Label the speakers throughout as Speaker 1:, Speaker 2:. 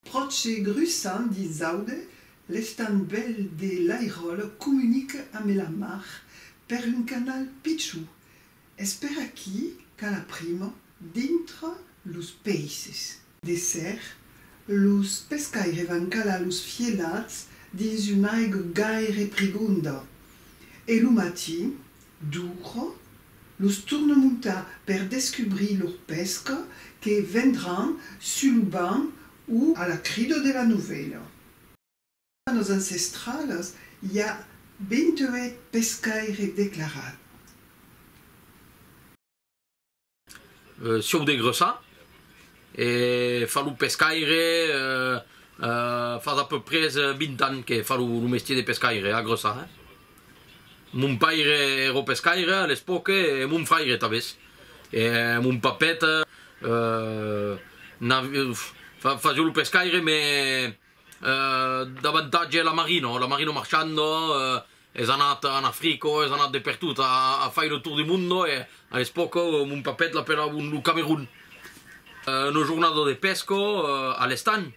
Speaker 1: Pròche grussant dins Aude, l'estam bèl de Lairòl comunica ambe la mar per un canal pichon. Es per aquí qu'a la prima dintra los peisses. De ser, los pescaires van calar los fielats dins una aiga gaire prigonda e lo matin, d'uòra, los torna montar per descubrir lor pesca que vendràn sus lo banc o a la crida de la novèla. Dins las nos ancestralas i a 28 pescaires declarats.
Speaker 2: Sieu de gressar e far lo pescaire fas a peu pres 20 ans que far lo mestier de pescaire a gressar eh mon paire ero pescaire a l'espoque e mon fraire tabes e mon papèt fasieu lo pescaire mes davantatge la marina la marina marchanda Es anat en Africa, es anat de pertot, a a fai le tour du mundo e a l'espòca mon papet l'apelavan lo Camerun. Una jornada de pesca a l'estanh,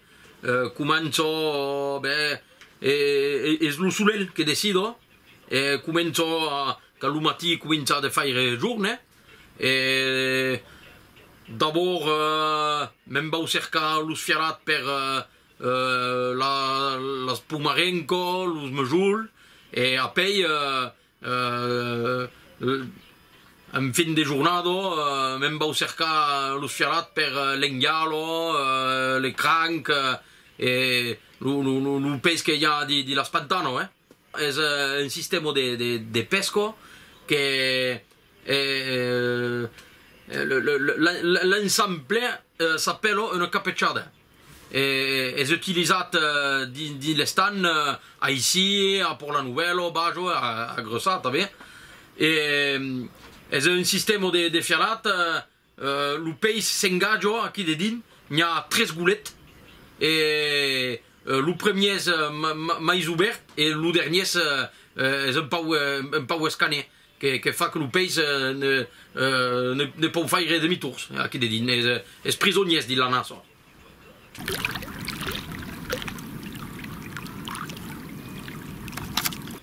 Speaker 2: comença ben e es lo solelh que decida e comença quand lo matí comença de faire jorn e d'abord me'n vau cercar los fiarat per las pomarenco, los mejol e apèi en fin de jornada me'n vau cercar los fialats per lenhalo, le cranc e lo pes que i a de las pantano eh. Es un sistèma de pesca que l'ensemble s'apèla una capechada. Es utilizat dins l'estan aicí a Pòrtlanuvèlo, Bajo, a Gròsa tanben. Es un sistèma de fialat, lo peis s'engaja aquí dedins, n'i a tres golet e lo premier es mai obèrt e lo dernier es un pauc escanè. que fa que lo peis ne pòu faire demi-tours, aquí de dins, es es prisoniers dins la nason.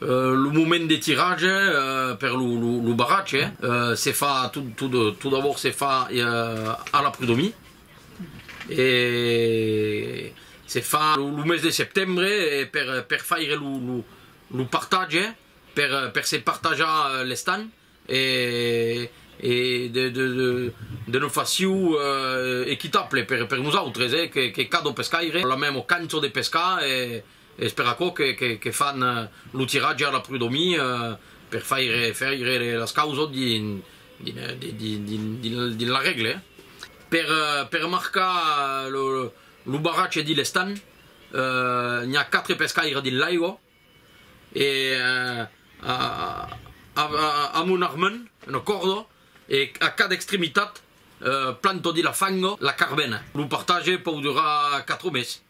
Speaker 2: Lo moment de tirage per lo barratge se fa tot d'abòrd se fa a la prudomie e se fa lo mes de septembre per faire lo partatge. per se partajar l'estan e de ne faciu equitable per nosautres que cada pescaire la mèmo canço de pescar e es per aquò que fan lo tiratge a la prudomi per faire faire las causas dins la règle per marcar lo barratge dins l'estan n'i a quatre pescaires dins l'aiga. e a mon armand una còrda e a cada extremitat planto de la fanga la carbena, lo partage pòu durar 4 mes,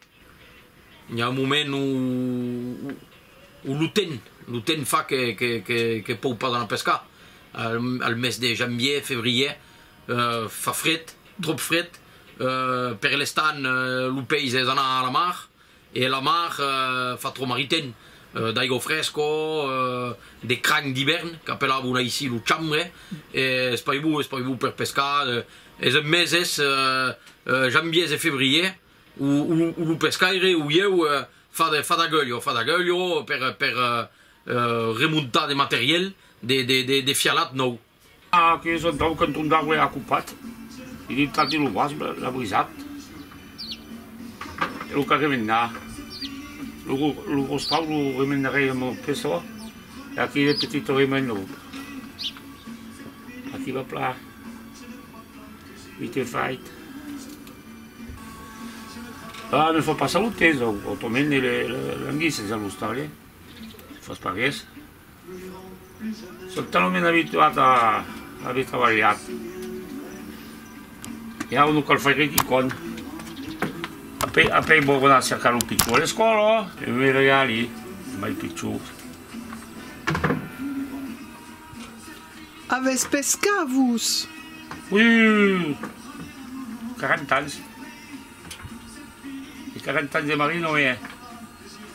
Speaker 2: i a un moment o lo temps, lo temps fa que pòu pas anar pescar, al mes de janvier, février fa fret, tròp fret, per l'estan lo peis es anar a la mar E la mar fa trop maritain, d'aigo fresco, de cranh d'ivèrn, qu'apelavon aicí lo chambre, es paibou, es paibou per pescar, es en meses, janviers e febriers, où lo pescaire, où ieu, fa d'aguelho, fa d'aguelho per remontar de materiel, de fialat nòu. Aqueri son
Speaker 3: tau qu'en ton d'arbre a copat, e dintati lo vòsb l'a brisat, e lo qu'a remendat. Lo rostau lo remendarè en mon peçò, e aqueri de petit o remen lo Aqui va plan, vit e fait. Ah, ne fa pas a lo temps, autrament le languisses a l'ostal, eh? Fas pas res. Sò talament abituat a aver trabalhat e ara non cal faire quicòm. Après, après vò anar cercar lo pichon a l'escòla e me regali mai pichons.
Speaker 1: Avètz pescat, vos?
Speaker 3: Ui, 40 ans. E 40 ans de marino, e.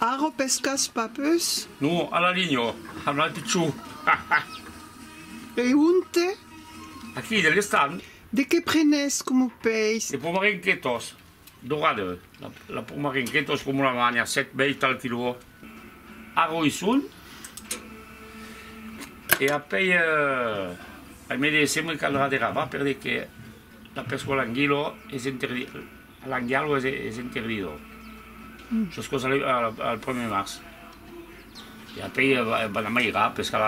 Speaker 1: Arro pescas pas pus? Non, a la linha,
Speaker 3: amb la pichon,
Speaker 1: ha ha! E onte? Aquí, de
Speaker 3: l'estan. De qué prenes
Speaker 1: comu peis? De pomarenquetas,
Speaker 3: dorada, la pomarenquetas comu la manha, sèt, bèit al quilò, arro i son, e apèi, ai me de, se me caldrà de ravar, per de que la pesca o l'anguila es interdita. Lang dialog es intervidor sos cos al prumèr març e apèi van amairar pescar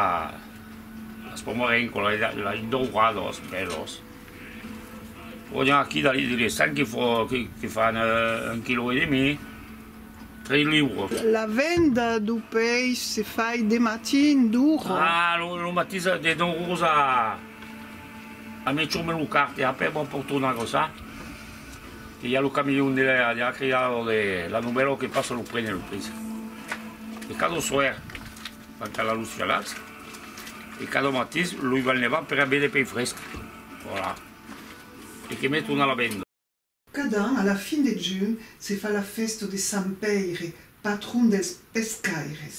Speaker 3: las promòr en cola la in doura dos bèlos o ja aquí la li les sang que fan un quilò e demi tres liuros. La venda
Speaker 1: du peish se fai de matin d'ora. Ah lo matís
Speaker 3: de don rosa. A me chome lo carte e après bon por tornar gosar que i a lo camion de la de la crida lo de la novèla que passa lo prene lo prince e cada soir van calar los jalats e cada matins lo i van levar per a bere pei fresc voilà e que me torna la venda Cada an, a
Speaker 1: la fin de junh, se fa la fèsta de Sant Pèire, patron dels pescaires.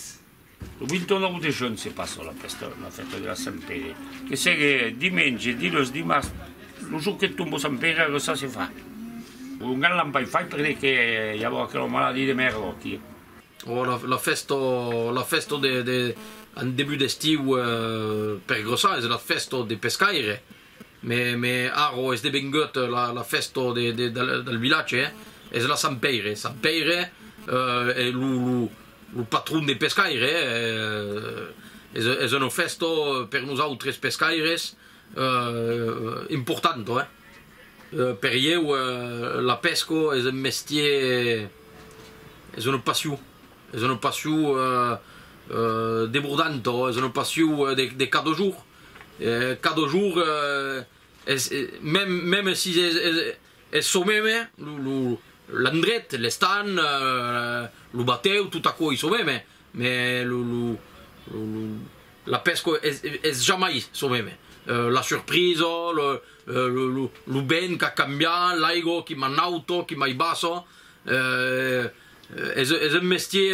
Speaker 1: Lo 29
Speaker 3: de junh se passa la fèsta de la Sant Pèire, que segue dimenge, diluns, dimars, lo jorn que tomba Sant Pèire aguesta se fa. Un gran lampai fai perque que i ava aquela maladie de mèrda aquí. La
Speaker 2: fèsta, la fèsta de, de, en debut d'estiu per grossar es la fèsta de pescaire. Me me arro es devengut la la fèsta de de del vilatge es la sant Pèire, sant Pèire e lo lo lo patron de pescaire es es una fèsta per nosautres pescaires importanta eh per ieu la pesca es un mestier es una passion es una passion debordanta es una passion de cada jorn. Cada jour es meme si es çò meme, l'endret, l'estan, lo batèu, tot aquò ei çò meme, me la pesca es jamai çò meme, la surprisa, lo vent qu'a cambiat, l'aiga qui mai nauta, qui mai bassa, es un mestier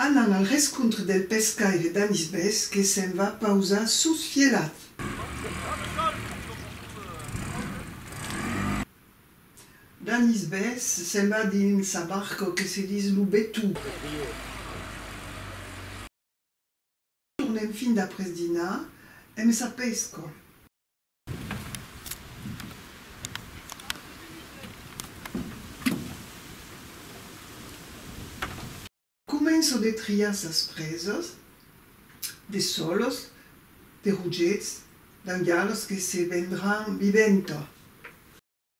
Speaker 1: Anam al rescontre del pescaire Danis Bes que se'n va pausar sus Vielhat. Danis Bes se'n va dins sa barca que se dis lo Betou. Tornem fin d'après dinar emb sa pesca. Començo de triar sas presas, de solos, de rogets, d'angalos que se vendràn viventa.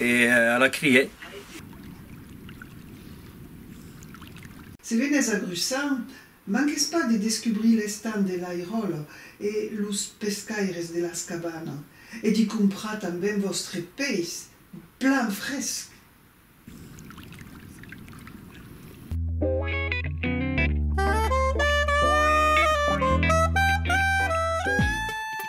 Speaker 4: E a la crier.
Speaker 1: Se venes a Grussant, manques pas de descubrir l'estant de l'Airòla e los pescaires de las cabanas e d'i comprar tanben vòstre peish plan fresc!